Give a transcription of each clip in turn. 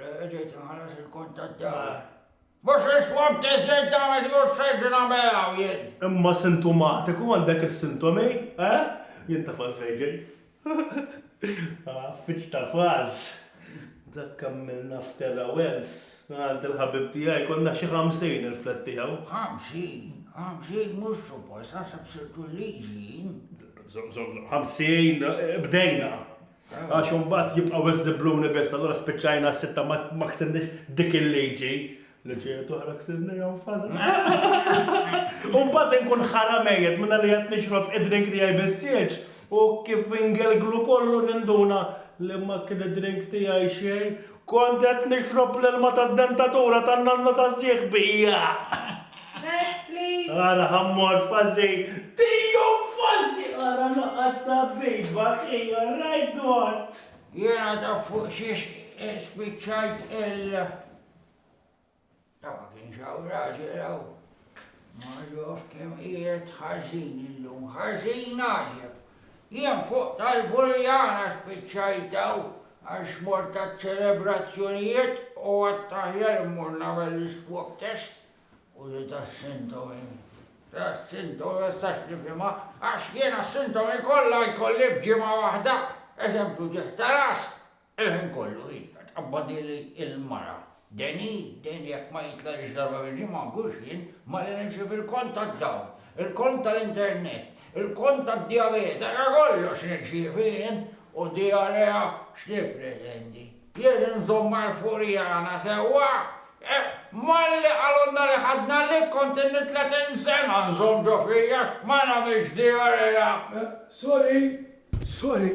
Reġejt inħallas il-kont tad-dawl. Mhux is-swab test ġejt nagħmel jew sejt nagħmel hawn jien? Imma sintomatiku għandek is-sintomi, eh? Jien taf għalfejn ġejt. Għaffiċ ta' faż. Dak għamilna f'Terra Wells, għand il-ħabib tiegħi konna xi ħamsin il-flat tiegħu. Ħamsin? Ħamsin mhux suppost, naħseb sirtu l-liġi jien. Ħamsin bdejna. Għax imbagħad jibqgħu iżżibbluni biss, allura spiċċajna s-sitta ma ksirniex dik il-liġi. Liġijiet oħra ksirnihom faża. U mbagħad inkun ħara mejjet minna li qed nixrob id-drink tiegħi bis-sieġ u kif ingelglu kollu ninduna li ma kien id-drink tiegħi xejn Kont qed nixrob l-ilma tad-dentatura tan-nanna ta' sieħbi, jaaħ! Next please! Ara ħammor fażi! Tiju fażi! Ara noqgħod tabbiba, ħija, rajt dwat! Jiena taf fuq xiex spiċċajt il. Għax ma kienx hawn raġel hawn. Ma ġof kemm qiegħed ħażin illum, ħażin għaġeb. Jien fuq tal-Furjana spiċċajt hawn għax mort għaċ-ċelebrazzjonijiet u għedt aħjar immur nagħmel l-iswab test u li tas-sintomi. Tas-sintomi ma nistax nifhimha għax jiena s-sintomi kollha jkolli f'ġimgħa waħda. Eżempju ġieħ ta' ras, Il-ħin kollu hi qed tqabbadili l-mara. Deni, Deni jekk ma jitlagħlix darba fil-ġimgħa mhux jien, malli nimxi fil-kont tad-dawl, il-kont tal-internet, il-kont tad-dijabete, ta' kollox nirċievi jien! U dijarea x'nippretendi? Jien inżommha l-furjana sewwa? Eh, malli qalulna li ħadna l-ik kont inni tletin sena nżomm ġo fija għax ma nagħmilx dijarea! Sorry, sorry,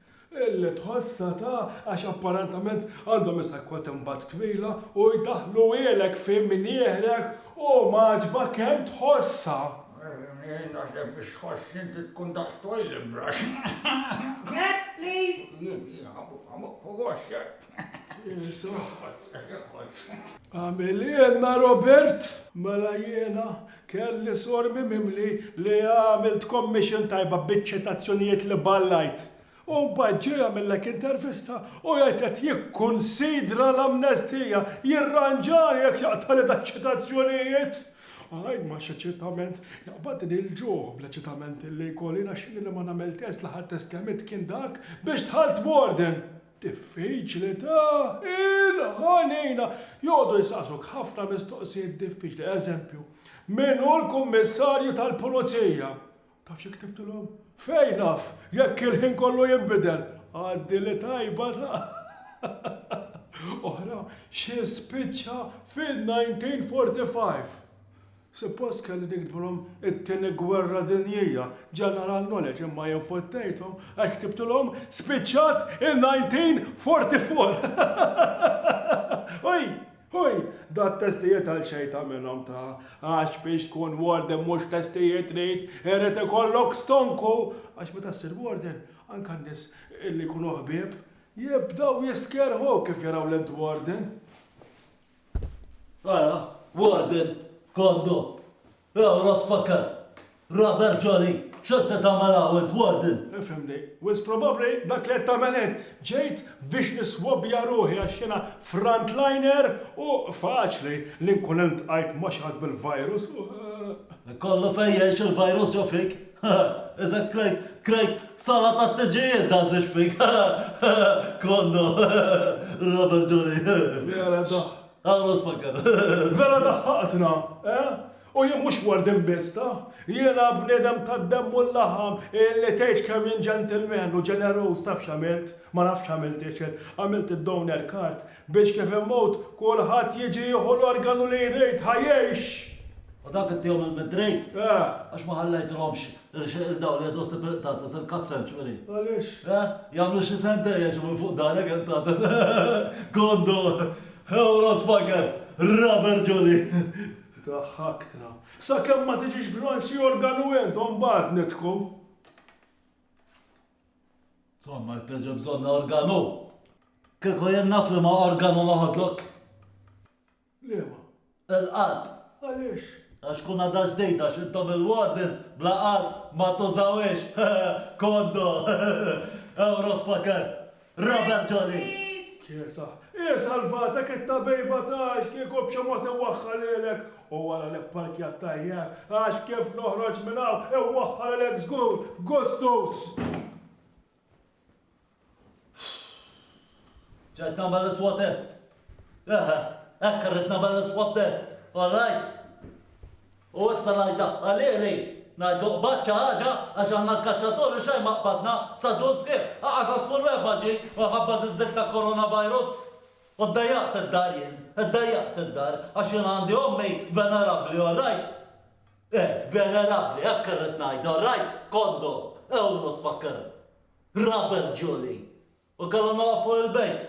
Li tħossha ta' għax apparentament għandhom issa kwotmbat twila u jdaħħluhielek fi mnieħrek u m'għaġbha kemm tħossha. Jien naħseb biex tħoss inti tkun daqs toilet brush. Next please. Jien, jien, ħabost, ħabost, ħabost, ċert. Jesu. Għamilienna Robert! Mela jiena kelli sor mimimli li għamilt commission tajba biċ-ċitazzjonijiet li ballajt. U mbagħad ġej jagħmillek intervista u jgħid qed jikkunsidra l-amnestija, jirranġani jekk jaqtagħli daċ-ċitazzjonijiet! Għaj ma xi ċitament, jaqbadni l-ġuħ bla ċitament li jkolli naxxili li ma nagħmel test l-aħħar test li għamilt kien dak biex dħalt b'orden! Diffiċli ta' il-ħanina! Joqogħdu jistaqsuk ħafna mistoqsijiet diffiċli. Eżempju, min hu l-Kummissarju tal-Pulizija? Taf xi ktibtilhom? Fejn naf, jekk il-ħin kollu jinbidel! Għaddi li tajba ta' oħra xi spiċċa fil-1945. Suppost kelli niktbulhom it-Tieni Gwerra Dinjija, General Knowledge, imma jien fottejthom għax ktibtulhom spiċċat in-1944! Hui! Hui! Dat-testijiet għal xejn ta' minnhom ta', għax biex tkun warden mhux testijiet trid, irid ikollok stonku! Għax meta ssir warden, anke n-nies li jkunu ħbieb, jibdew jistkerħu kif jaraw lil warden! Ara, Warden, Kondo, Ew rasfaker, Rubber Jolly, x'qed qed tagħmel hawn int, Warden? Ifhimni, wis probabbli dak li qed tagħmel int, ġejt biex niswobbja ruħi għax jiena frontliner u faċli li nkun iltqajt ma' xi ħadd bil-virus u. Ikollu fejn jgħix il-virus ġo fik, Eżatt krajt, krajt sala tat-teġijiet dan Żewġ Fig. Konno. Robert Ġoli. Vera daħ. Għamlu spakkar. Vera daħħaqtna, eh? U jien mhux warden biss, ta? Jiena bniedem tad-demm u l-laħam illi tgħix kemm jien ġentilmen u ġeneruż taf x'għamilt? Ma nafx x'għamilt, Ixil. Għamilt id-donor card Biex kif immut, kulħadd jiġi jieħu l-organu li jrid ħa jgħix! U dak ittihom il-midrejt? Eh! Għax ma ħallejthomx irxeqil dawl jgħidu sib il-qtates, il-cut century. Għaliex? Eh! Jagħmlu xi sentejn jgħixu minn fuq darek il-qtates. Kondu! Hewra sfaker! Raber ġoli! Daħħaktna. Sakemm ma tiġix b'xi organu int u mbagħad nidħku. Insomma, jpeġa bżonna organu. Kieku jien naf li ma organu noħodlok. Liema. Il-qalb. Għaliex? Għax kun għadha ġdejda x'intom il-wardens bla qalb ma tużawiex. Koddo. Euro spaker. Robert Dolly. Kiesa, Hi salvatek it-tabejba tagħx kieku b'xi mod iwaħħalilek u wara li pparkjat tajjeb, għax kif noħroġ minn hawn iwaħħalilek żgur b'gustus! Ġejt nagħmel l-iswatest. Eħe, hekk irrid nagħmel l-iswab test, all right? U issa ngħid daħħalieli, ngħid l-oqbad xi ħaġa għax aħna l-kaċċaturi xejn ma qbadna, staġun sħiħ, anqas għasfur wieħba ġie minħabba diż-żikk ta' coronavirus. U ddejjaqt id-dar jien, iddejjaqt id-dar għax jien għandi ommi venerabbli, all right? Eh, venerabbli, hekk irrid ngħid, all right? Kondom, ewro sfakkerhom. Rubber Julie. U kellha nagħlaq fuq il-bejt.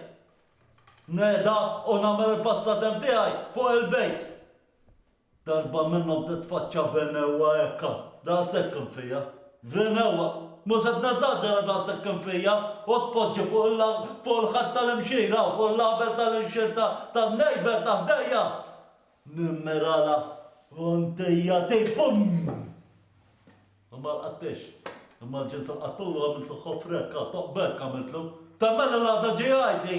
Nehda u nagħmel il-passatemp tiegħi fuq il-bejt. Darba minnhom titfaċċa venewwa hekka, daqshekk kien fija. Venewwa! Mhux qed neżaġera daqshekk kien fija u tpoġġi fuq il-ħadd tal-imxir hawn fuq il-label tal-inxirta tan-neighbour ta' ħdejja! Nimmerala Fontejja Tei Fum! U ma lqattiex. Imma l-ġins lqattulu għamiltlu ħofra hekk għad toq b'hekk għamiltlu. Ta' mela l-għada ġej għidli!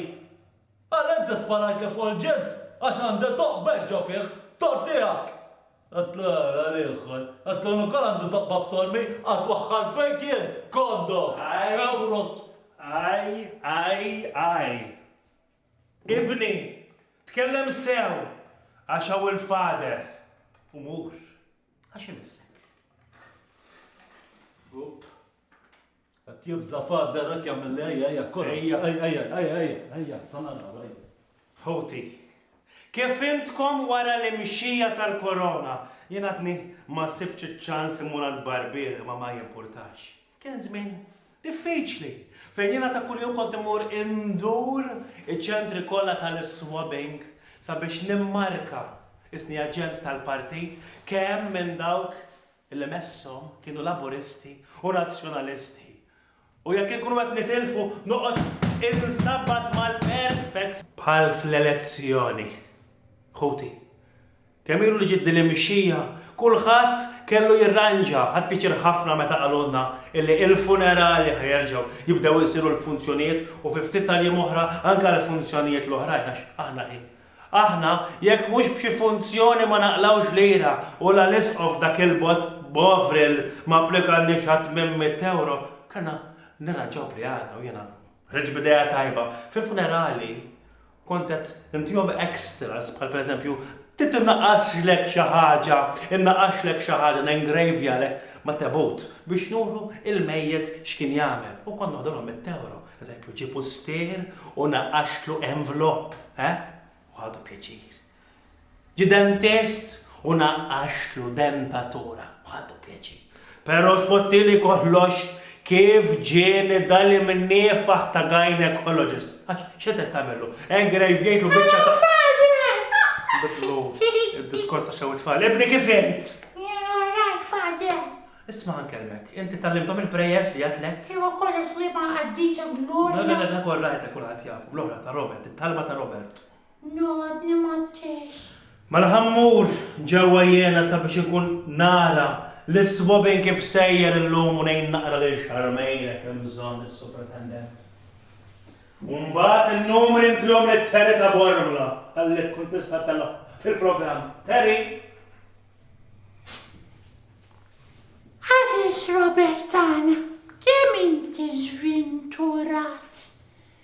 Għala inti sparajtli fuq il-ġins? Għax għandi toq b'hekk ġo fih! Tor tiegħek! Għidtlu ara l-ieħor. Għidtlu jien ukoll għandi toqba f'sormi, għad twaħħal fejk jien! Koddo! Ewros! Għaj! Għaj! Għaj! Ibni, tkellem sew, għax hawn il-Father, u mur, għax imissek. Up. Qed jibża' Father hekk jagħmilli ejja, ejja, kora. Ejja. Ejja, ejja, ejja, ejja, ejja, sa naraw, ejja. Ħuti, kif fhimtkom wara l-imxija tal-Korona, jien għadni ma sibtx iċ-ċans immur għand barbier imma ma jimpurtax. Kien żmien diffiċli, fejn jiena ta' kuljum kont immur indur iċ-ċentri kollha tal-iswabbing sabiex nimmarka isni aġent tal-partit, kemm minn dawk li messhom kienu Laburisti u Nazzjonalisti. U jekk inkunu qed nitilfu, noqgħod insabbat mal-Perspex. Bħal fl-elezzjoni, ħuti. Kemm ilu li ġiet din l-imixxija? Kulħadd kellu jirranġa. Ħadt pjaċir ħafna meta qalulna illi il-funerali ħa jerġgħu jibdew isiru l-funzjonijiet u fi ftit tal-jiem oħra anke l-funzjonijiet l-oħrajn għax aħna hi. Aħna jekk mhux b'xi funzjoni ma naqlgħux lira u la l-Isqof dak il-bogħod Bovril ma applikalniex għal tmien mitt ewro, kellna nirranġaw bli għadna u jiena ħriġt b'idea tajba. Fil-funerali Kont qed intihom extras bħal pereżempju trid tinnaqqasxlek xi ħaġa, innaqqaxlek xi ħaġa, nengravjalek ma' tebut biex nuru il-mejjet x'kien jagħmel u kont noħdulhom mit-tewro. Eżempju, ġie pustier u naqqaxtlu envelope, eh? U ħadu pjaċir. Jidem test u naqqaxtlu dentatura u ħadtu pjaċir. Pero tfottili kollox kif ġieli dali mniefah ta' gynecologist. Għax x'qed qed tagħmillu? Engrejvjejtlu biċċa ta' Bidlu id-diskors għax hawn it-tfal. Ibni kif int? Jien all right, Father. Isma' ħankellmek, inti tgħallimthom il-prayers li għedtlek? Iva kollha sliema qaddisa Gloria. Le le le dak all right dak kulħadd jafu. L-oħra ta' Robert, it-talba ta' Robert. Ngħoddni mat-tix. Mela ħa mmur ġewwa jiena sabiex inkun nara lis-swabin kif sejjer illum u ngħin naqra lil Charmaine jekk hemm bżonn, is-Supretendent. U mbagħad in-numri ntihom lil Terry ta' Bormla, ħallih tkun tista' telgħa fil-programm. Terry! Għażiż Robert tagħna, kemm inti żvinturat!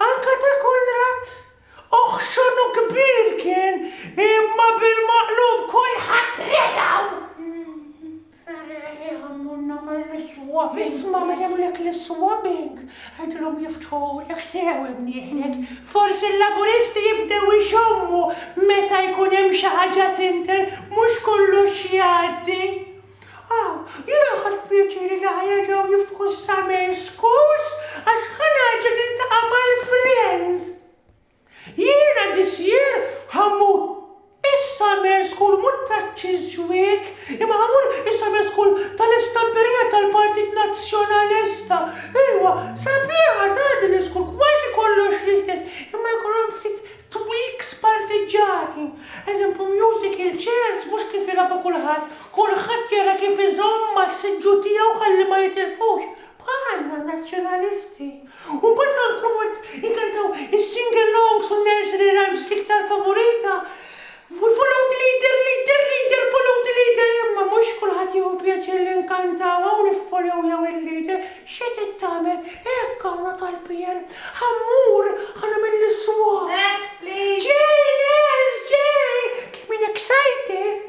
Anka ta' Konrad? Ohh x'għonu kbir kien imma bil-maqlub kulħadd redgħu! Reħieħ Ammonna mill-iswabbing! Isma' ma jagħmlulek l-iswabbing, għidilhom jiftħulek sew imnieħlek. Forsi l-Laburisti jibdew ixommu meta jkun hemm xi ħaġa tinter, mhux kollox jgħaddi. Aw, jiena ħadt pjaċir li ħa jerġgħu jiftħu s-summer schools għax ħa nerġa' niltaqa' mal-friends. Jiena this year ħa mmur is-summer school mhux taċ-Chiswick imma ħa mmur is-summer school tal-istamperija tal-Partit Nazzjonalista. Ejwa, sabiħa ta' din l-iskul kważi kollox l-istess imma jkollhom ftit Tweaks partiġġani, eżempju musical chairs mhux kif jilagħbu kulħadd, kulħadd jara kif iżomm mas-siġġu tiegħu ħalli ma jitilfux, bħalna Nazzjonalisti. U mbagħad ħa nkunu qed inkantaw is-singalongs u n-nursery rhymes l-iktar favorita Hu flute leader leader leader flute leader Imma mhux kulħadd jieħu pjaċir li nkantaw hawn Iffollow jew il-leader xi trid tagħmel Hekk għandna tal-PN Ħa mmur ħa nagħmel l-iswab Next please Ġej les ġej Kemm jien excited!